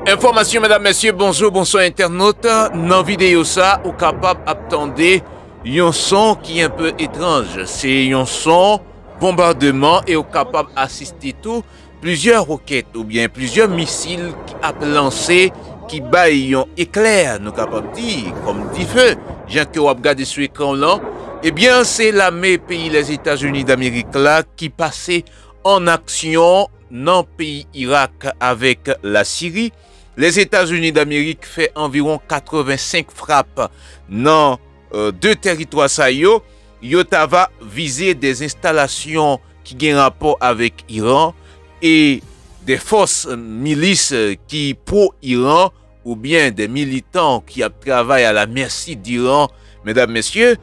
Enfòmasyon medam mesye bonjou bonswa entènot nan videyo sa ou kapab ap tande yon son ki enpe etranj se yon son bonbademan e ou kapab asiste tou plizyè rokèt oubyen plizyè misil ki ap lanse ki bay yon eklè nou kapab di kòm dife jan ke wap gade sou ekran w lan ebyen se lame peyi Lèzetazini Damerik la ki pase an aksyon. Nan peyi Irak avèk Lasiri, Lèzetazini Damerik fè anviwon 85 frap nan 2 tèritwa sa yo, yo ta va vize de enstalasyon ki gen rapò avèk Iran e de fòs milis ki pwo-Iran, oubyen de militan ki ap travay a la mèsi d'Iran, medam mesye,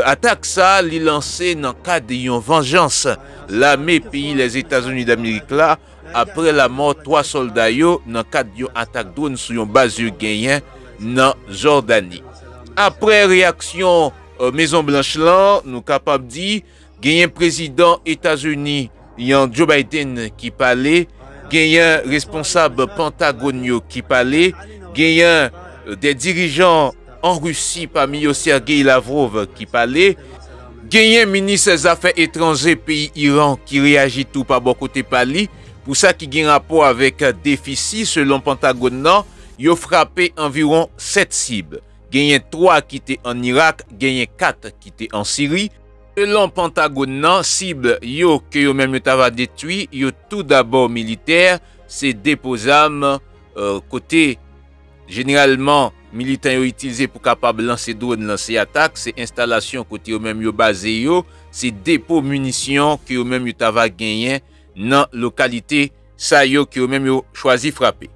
atak sa li lanse nan kad yon vanjans lame peyi Lèzetazini Damerik la apre lamò 3 sòlda yo nan kad yon atak dronn sou yon baz yo genyen nan Jòdani. Apre reyaksyon Mezon Blanch lan, nou kapab di Genyen prezidan Etazini yan Joe Biden ki pale, genyen responsab Pantagon yo ki pale, genyen de dirijan an Risi pami yo Sergei Lavrov ki pale, genyen minis zafè etranje peyi Iran ki reyaji tou pa bò kote pa li pou sa ki gen rapò avèk defisi selon Pantagon nan yo frape anviwon 7 sib, genyen 3 ki te an Irak, genyen 4 ki te an Siri. Selon Pantagon nan, sib yo ke yo menm yo ta va detwi yo tou dabò militè, se depo zam kote jeneralman militan yo itilze pou kapab lanse dron, lanse atak, se enstalasyon kote yo menm yo baze yo, se depo minisyon ke yo menm yo ta va genyen nan lokalite sa yo ke yo menm yo chwazi frape.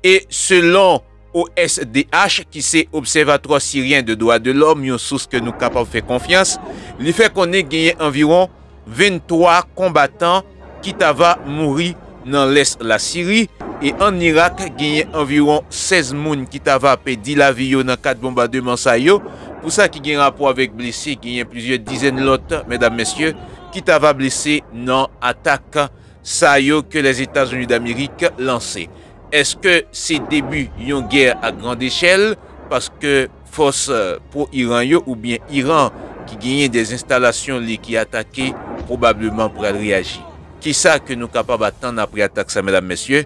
E selon OSDH ki se Obsèvatwà Siryen de Dwa de Lòm, yon sous ke nou kapab fè konfyans, li fè konnen genyen anviwon 23 konbatan ki ta va mouri nan lès la Siri, e ann Irak genyen anviwon 16 moun ki ta va pèdi lavi yo nan kad bonbademan sa yo. Pou sa ki gen rapò avèk blese, genyen plizyè dizèn lòt, mèdam mesye, ki ta va blese nan atak sa yo ke Lèzetazini Damerik lanse. Eske se debi yon gè a grand echèl paske fòs pro-Iran yo oubyen Iran ki genyen de enstalasyon li ki atake pwobableman pral reyaji? Kisa ke nou kapab atann apre atak sa medam mesye?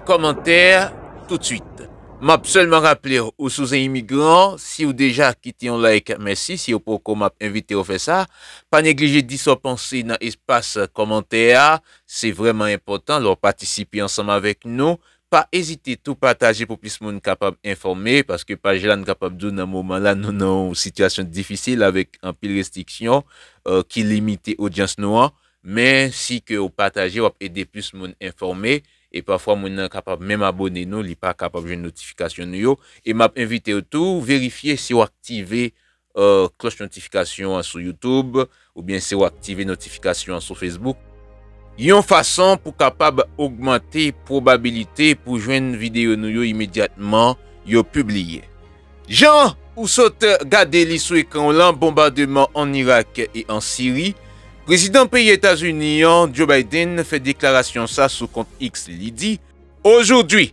Kòmantè toutswit. Map sèlman raple ou si w se imigran, si w deja kite yon like mèsi, si w poko map envite w fè sa. Pa neglije di sa w panse nan espas kòmantè a, se vrèman enpòtan lè w patisipe ansanm avèk nou. Pa ezite tou pataje pou plis moun kapab enfòme, paske paj la n kapab di w nan moman la nou nan yon sitiyasyon difisil avèk anpil restriksyon ki limite odyans nou an. Men si ke w pataje w ap ede plis moun enfòme e pafwa moun nan kapab menm abone nou li pa kapab jwenn notifikasyon nou yo. E m ap envite w tou verifye si w aktive Kloch notifikasyon an sou YouTube oubyen se w aktive notifikasyon an sou Facebook. Yon fason pou kapab ogmante pwobabilite pou jwenn videyo nou yo imedyatman yo pibliye. Jan ou sot gade li sou ekran w lan, bonbademan ann Irak e an Siri, Prezidan peyi Etazini an, Joe Biden, fè deklarasyon sa sou kont X li di, Aujourd'hui,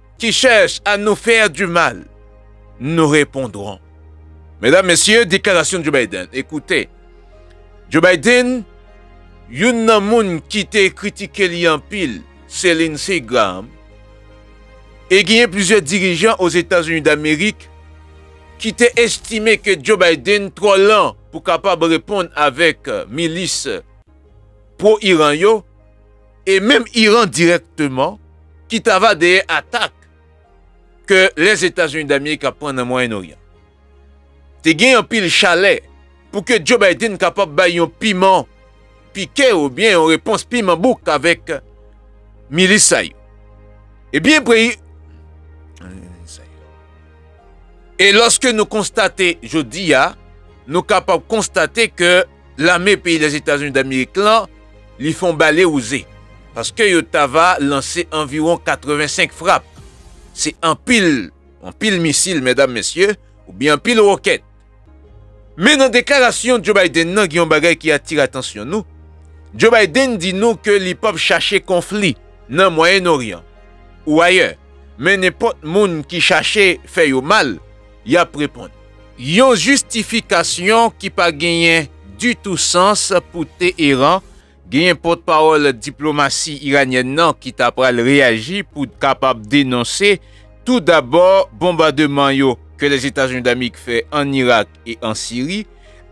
Qui cherche à nous faire du mal, nous repondrons. Medam mesye, deklarasyon Joe Biden e koute. Joe Biden, youn nan moun ki te kritike li anpil se Lindsey Graham e genyen plizyè dirijan Ozetazini Damerik ki te estime ke Joe Biden twò lan pou kapab reponn avèk milis pwo-Iran yo e menm Iran dirèkteman ki ta va dèyè atak ke Lèzetazini Damerik ap pran nan Mwayen Oryan. Te gen anpil chalè pou ke Joe Biden kapab bay yon piman pike ou byen yon repons piman bouk avèk milis sa yo. E byen preyi E lòske nou konstate jodi a, nou kapab konstate ke lame peyi Lèzetazini Damerik lan, li fon bale wouze, paske yo ta va lanse anviwon 85 frap. Se anpil, anpil misil, medam, mesye, oubyen anpil wòkèt. Men nan deklarasyon Joe Biden nan gen yon bagay ki atire atansyon nou, Joe Biden di nou ke li pap chache konfli nan Mwayen Oryan ou ayè, men nenpòt moun ki chache fè yo mal, yap reponn. Yon jistifikasyon ki pa genyen ditou sans pou Teheran. Genyen pòtpawòl diplomasi iranyèn nan ki ta pral reyaji pou kapab denonse tou dabò bonbademan yo ke Lèzetazini Damik fè ann Irak e an Siri,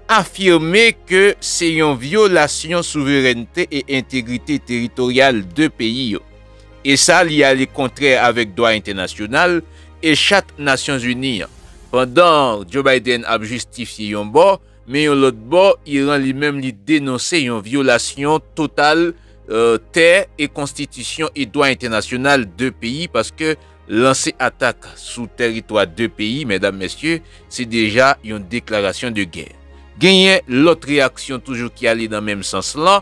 afime ke se yon vyolasyon souverènte e entegrite teritoryal 2 peyi yo. e sa li ale kontrè avèk dwa entènasyonal e chat Nasyonzini an, pandan Joe Biden ap jistifye yon bò, men yon lòt bò Iran li menm li denonse yon vyolasyon total tè e konstitisyon e dwa entènasyonal 2 peyi paske lanse atak sou tèritwa 2 peyi medam mesye se deja yon deklarasyon de gè. Genyen lòt reyaksyon toujou ki ale nan menm sans lan,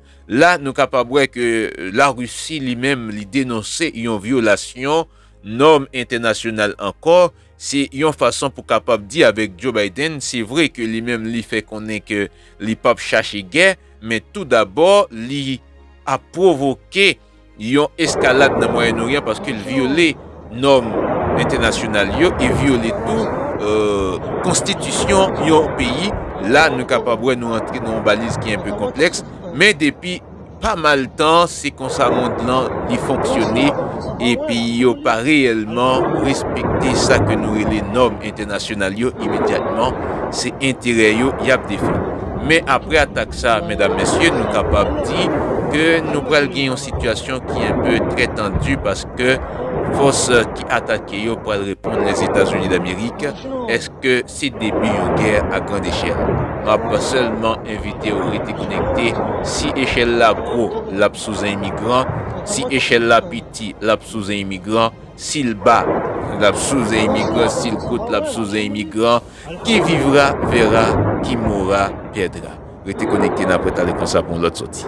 La nou kapab wè ke La Risi li menm li denonse yon vyolasyon nòm entènasyonal ankò, se yon fason pou kapab di avèk Joe Biden, se vre ke li menm li fè konnen ke li pap chache gè, men tou dabò li ap pwovoke. Yon eskalad nan Mwayen Oryan paske l vyole nòm entènasyonal yo e vyole tou konstitisyon yon peyi. La nou kapab wè nou antre nan yon baliz ki enpe konplèks men depi pa mal tan se konsa mond lan li fonksyone e peyi yo pa reyèlman respekte sa ke nou rele nòm entènasyonal yo imedyatman se enterè yo y ap defann. Men apre atak sa. Sa a medam mesye nou kapab di ke nou pral gen yon sitiyasyon ki enpe trè tandi paske fòs ki atake yo pral reponn Lèzetazini Damerik. Eske se debi yon gè a grand echèl? M ap sèlman envite w rete konekte. Si echèl la gwo, l ap sou zen imigran. Si echèl la piti, l ap sou zen imigran. Si l ba, l ap sou zen imigran. Si l kout, l ap sou zen imigran. Qui vivra verra, qui mourra perdra. Rete konekte nan Apre Tale Konsa pou yon lòt sòti.